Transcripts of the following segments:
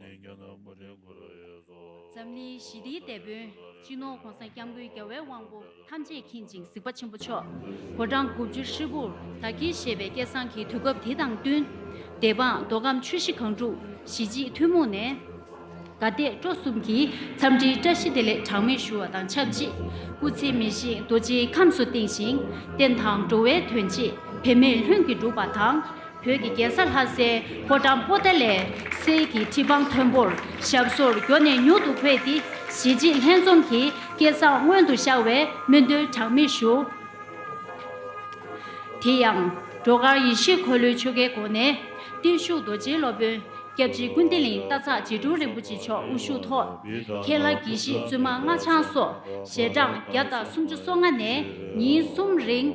ནི་རྒྱ་ནག་པོ་ཏའི་སྐུ་རུ་ཡོད་དོ། འཛམ་གླིང་ཞི་བདེའི་དེད་དཔོན། སྤྱི་ནོར ྋགོང་ས ྋསྐྱབས་མགོན་རྒྱལ་བའི་དབང་པོ་ཐམས་ཅད་མཁྱེན་ཅིང་གཟིགས་པ་ཆེན་པོ་མཆོག ྋགོང་གྲངས་དགུ་བཅུ་ཧྲིལ་པོར་ད་གིན་བཞེས་པའི་སྐལ་བཟང་གི་དུས་སྐབས་དེ་དང་བསྟུན། སྡེ་འབངས་མདོ་ཁམས་ཆུ་བཞི་སྒང་དྲུག་གཞིས་བྱེས་ཐུན་མོང་ནས། དགའ་དད་སྤྲོ་གསུམ་གྱིས་འཚམས་འདྲིའི་བཀྲ་ཤིས་བདེ་ལེགས་གྲངས་མེད་ཞུ་བ་དང་ཆབས་ཅིག་སྐུ་ཚེ་མི་བཞེངས་རྡོ་རྗེའི་ཁམས་སུ་བསྟེན་ཞིང་བསྟན་དང་འགྲོ་བའི་དོན་ཆེད་བེད་མེད་ལྷུན་གྱིས་འགྲུབ་པ་དང། བོད་ཀྱི་རྒྱལ་ས་ལྷ་སའི་ཕོ་བྲང་པོ་ཏཱ་ལའི་སེ་ཡི་ཁྲི་འཕང་མཐོན་པོར་ཞབས་སོར་འགྱོ་ནས་མྱུར་དུ་འཁོད་དེ་གཞིས་བྱེས་ལྷན་འཛོམས་ཀྱི་སྐལ་བཟང་མངོན་དུ་ཤར་བའི་སྨོན་འདུན་གྲངས་མེད་ཞུ། དེ་ཡང། བྲོ་གར་ཡེ་ཤེས་འཁོར་ལོའི་ཆོ་གའི་སྒོ་ནས། བརྟུལ་ཞུགས་རྡོ་རྗེའི་སློབ་དཔོན་སྐྱབས་རྗེ་ཀུན་བདེ་གླིང་རྟ་ཚག་རྗེ་དྲུང་རིན་པོ་ཆེ་མཆོག་དབུ་བཞུགས་ཐོག་ཁྱེད་ལྷ་དགེ་བཤེས་བཙུན་མ་སྔགས་འཆང་སོགས་ཞལ་གྲངས་བརྒྱ་དང་སུམ་ཅུ་སོ་ལྔ་ནས་ཉིན་གསུམ་རིང་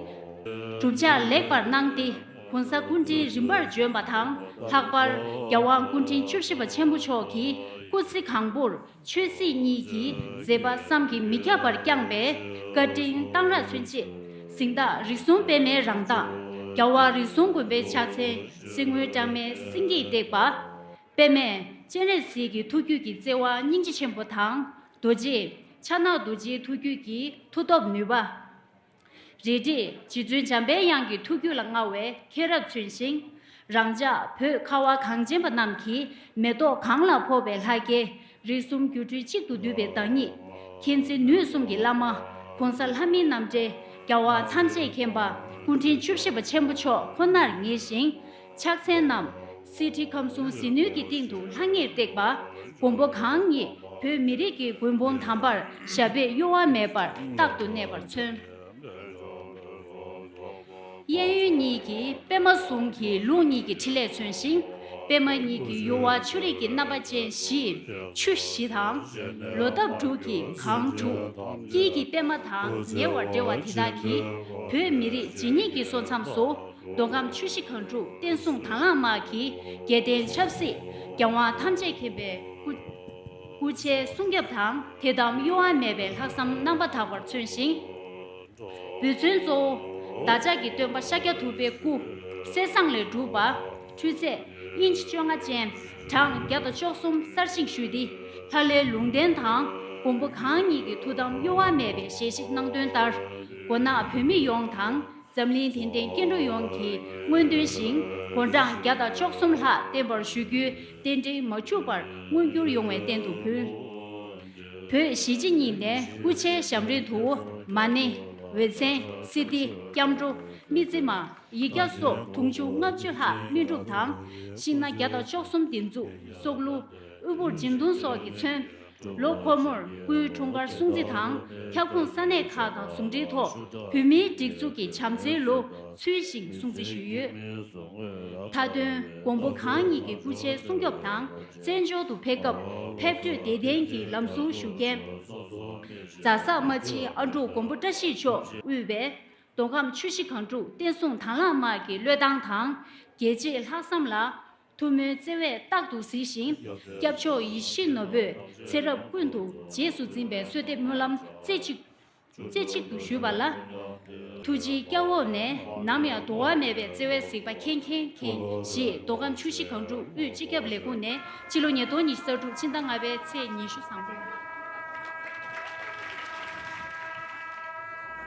གྲུབ་ཆ་ལེགས་པར་གནང་སྟེ། གོང་ས་སྐུ་དྲིན་རིམ་པར་བྱོན་པ་དང་ལྷག་པར་རྒྱ་དབང་སྐུ་དྲིན་བཅུ་བཞི་པ་ཆེན་པོ་མཆོག་གིས་སྐུ་ཚེ་གང་པོར་ཆོས་སྲིད་གཉིས་ཀྱི་མཛད་པ་བསམ་གྱིས་མི་ཁྱབ་པར་བསྐྱངས་པས་བཀའ་དྲིན་གཏང་རག་མཚོན་བྱེད་གཟིངས་བདག་རིགས་གསུམ་སྤེལ་མའི་རང་མདངས། རྒྱ་དབང་རིགས་གསུམ་དགོན་པའི་ཕྱག་མཚན་གསེར་དངུལ་སྦྲང་མའི་སེང་གེས་བཏེགས་པ། སྤེལ་མས་སྤྱན་རས་གཟིགས་ཀྱི་ཐུགས་རྒྱུད་ཀྱི་བརྩེ་བ་སྙིང་རྗེ་ཆེན་པོ་དང་རྡོ་རྗེ། ཕྱག་ན་རྡོ་རྗེའི་ཐུགས་རྒྱུད་ཀྱི་མཐུ་སྟོབས་ནུས་པ། རེད་དེ། རྗེ་བཙུན་འཇམ་པའི་དབྱངས་ཀྱི་ཐུགས་རྒྱུད་ལ་མངའ་བའི་མཁན་རབས་བྱོན་ཞིང། རང་ཅག་བོད་ཁ་བ་གངས་ཅན་པ་རྣམས་ཀྱིས་མེ་ཏོག་གངས་ལ་ཕོག་པའི་ལྷ་སྐལ། རིགས་གསུམ་སྒྱུ་འཕྲུལ་གཅིག་ཏུ་བསྡུས་པའི་བདག་ཉིད། མཁྱེན་བརྩེ་ནུས་གསུམ་གྱི་བླ་མ། གོང་ས་ལྷ་མིའི་རྣམ་འདྲེན། རྒྱལ་བ་ཐམས་ཅད་མཁྱེན་པ། སྐུ་ཕྲེང་བཅུ་བཞི་པ་ཆེན་པོ་མཆོག་ཁོ་ནར་ངེས་ཤིང། ཕྱག་མཚན་རྣམས། གསེར་ཁྲི་ཁམས་གསུམ་ཟིལ་གནོན་གྱི་སྟེང་དུ་ལྷང་ངེར་བཏེགས་པ། མགོན་པོ་གང་ཉིད་བོད་མི་རིགས་ཀྱི་མགོན་པོ་དམ་པར་ཞབས་པད་གཡོ་བ་མེད་པར་རྟག་ཏུ་གནས་པར་མཚོན། གཡས་གཡོན་གཉིས་ཀྱིས་པདྨ་ཟུང་གི་རླུང་གཉིས་ཀྱི་ཕྲིན་ལས་མཚོན་ཞིང། པདྨ་གཉིས་ཀྱི་གཡོ་བ་ཆུ་རིས་ཀྱི་རྣམ་པ་ཅན་བཞི། ཆུ་བཞི་དང། ལོ་འདབ་དྲུག་གི་གང་དྲུག། དཀྱིལ་གྱི་པདྨ་དང་ཉེ་བར་འབྲེལ་བ་དེ་དག་གིས་བོད་མི་རིགས་ཇི་སྙེད་ཀྱི་སོ་མཚམས་སུ། མདོ་ཁམས་ཆུ་བཞི་གངས་ཕྲུག་བསྟན་སྲུང་དང་བླངས་དམག་གིས་རྒྱལ་བསྟན་ཆབ་སྲིད། རྒྱལ་དབང་ཐམས་ཅད་མཁྱེན་པའི་སྐུ། སྐུ་ཕྱྭའི་གསུང་རྒྱབ་དང་དད་དམ་གཡོ་བ་མེད་པའི་ལྷག་བསམ་རྣམ་པ་དག་པར་མཚོན་ཞིང། འབུལ་མཚོན་གཙོ་བོ། བདག་ཅག་གི་སྟོན་པ་ཤཱཀྱ་ཐུབ་པའི་སྐུ། གསེར་ཟངས་ལས་གྲུབ་པ། འཕྲུལ་རྫས། དབྱིན་ཇི་བཅོ་ལྔ་ཅན། གྲངས་བརྒྱ་དང་བཅོ་གསུམ་གསར་བཞེངས་ཞུས་ཏེ། ལྷ་ལས་ལུང་བསྟན་དང་མགོན་པོ་གང་ཉིད་ཀྱི་ཐུགས་དམ་གཡོ་བ་མེད་པའི་ཞལ་བཞེས་གནང་དོན་ལྟར། མགོ་ནག་བོད་མི་ཡོངས་དང་འཛམ་གླིང་དེང་དེང་སྐྱེ་འགྲོ་ཡོངས་ཀྱི་སྔོན་ཐོན་ཞིང་བོད་འབྲང་བརྒྱ་དང་བཅོ་གསུམ་ལྷག་བརྟན་པར་ཞུ་རྒྱུའི་རྟེན་འབྲེལ་མ་འཕྱུགས་པར་མངོན་འགྱུར་ཡོང་བའི་རྟེན་དུ་ཕུལ། བོད་གཞིས་བྱེས་གཉིས་ནས་སྐུ་ཕྱྭའི་ཞབས་འབྲིང་དུ་མ་ནི། འོད་ཆེན། སི་ཏི། སྐྱབས་འགྲོ། སྨི་རྩེ་མ། ཡིག་བརྒྱ་སོགས་དུང་ཕྱུར་ལྔ་བཅུ་ལྷག་སྨིན་སྒྲུབ་དང། ཤིང་སྣ་བརྒྱ་དང་བཅོ་གསུམ་སྡིགས་མཛུབ། སྲོག་བསླུ། དབུལ་པོར་སྦྱིན་བརྡུང་སོགས་ཀྱིས་མཚོན། ལོ་འཁོར་མོར་སྐུའི་འཁྲུངས་སྐར་སྲུང་བརྩི་དང་ཁྱབ་ཁོངས་ས་གནས་ཁག་དང་ཟུང་འབྲེལ་ཐོག་བོད་མིའི་སྒྲིག་འཛུགས་ཀྱི་བྱམས་བརྩེའི་ལོ་ཚུལ་བཞིན་སྲུང་བརྩི་ཞུས་ཡོད། མཐའ་དོན་མགོན་པོ་གང་ཉིད་ཀྱི་སྐུ་ཕྱྭའི་སྲུང་སྐྱོབ་དང་བཙན་བྱོལ་དུ་ཕེབས་སྐབས་ཕེབས་བགྲོད་བདེ་ལྡན་གྱི་ལམ་སྲུང་ཞུ་མཁན། རྫ་ས་རྨ་ཆེན་ཨ་འབྲུག་མགོན་པོ་བཀྲ་ཤིས་མཆོག་དབུས་པའི་མདོ་ཁམས་ཆུ་བཞི་གངས་ཕྲུག་བསྟན་སྲུང་དྭངས་བླངས་དམག་གི་བློས་བཏང་དང་རྒྱལ་གཅེས་ལྷག་བསམ་ལ་ཐུགས་སྨོན་བརྩེ་བས་རྟག་ཏུ་གཟིགས་ཤིང། སྐྱབས་མཆོག་ཡིད་བཞིན་ནོར་བུས་ཚེ་རབས་ཀུན་ཏུ་རྗེས་སུ་འཛིན་པའི་གསོལ་འདེབས་སྨོན་ལམ་རྩེ་གཅིག་རྩེ་གཅིག་ཏུ་ཞུས་པ་ལ། ཐུགས་རྗེའི་སྐྱབས་འོག་ནས་ནམ་ཡང་དུ་བ་མེད་པའི་བརྩེ་བས་གཟིགས་པ་མཁྱེན་མཁྱེན་མཁྱེན་ཞེས་མདོ་ཁམས་ཆུ་བཞི་གངས་ཕྲུག་དབུས་སྤྱི་ཁྱབ་ལས་ཁུངས་ནས་སྤྱི་ལོ་ཉིས་སྟོང་ཉི་ཤུ་རྩ་དྲུག་ཕྱི་ཟླ་ལྔ་པའི་ཚེས་ཉི་ཤུ་བཟང་པོ།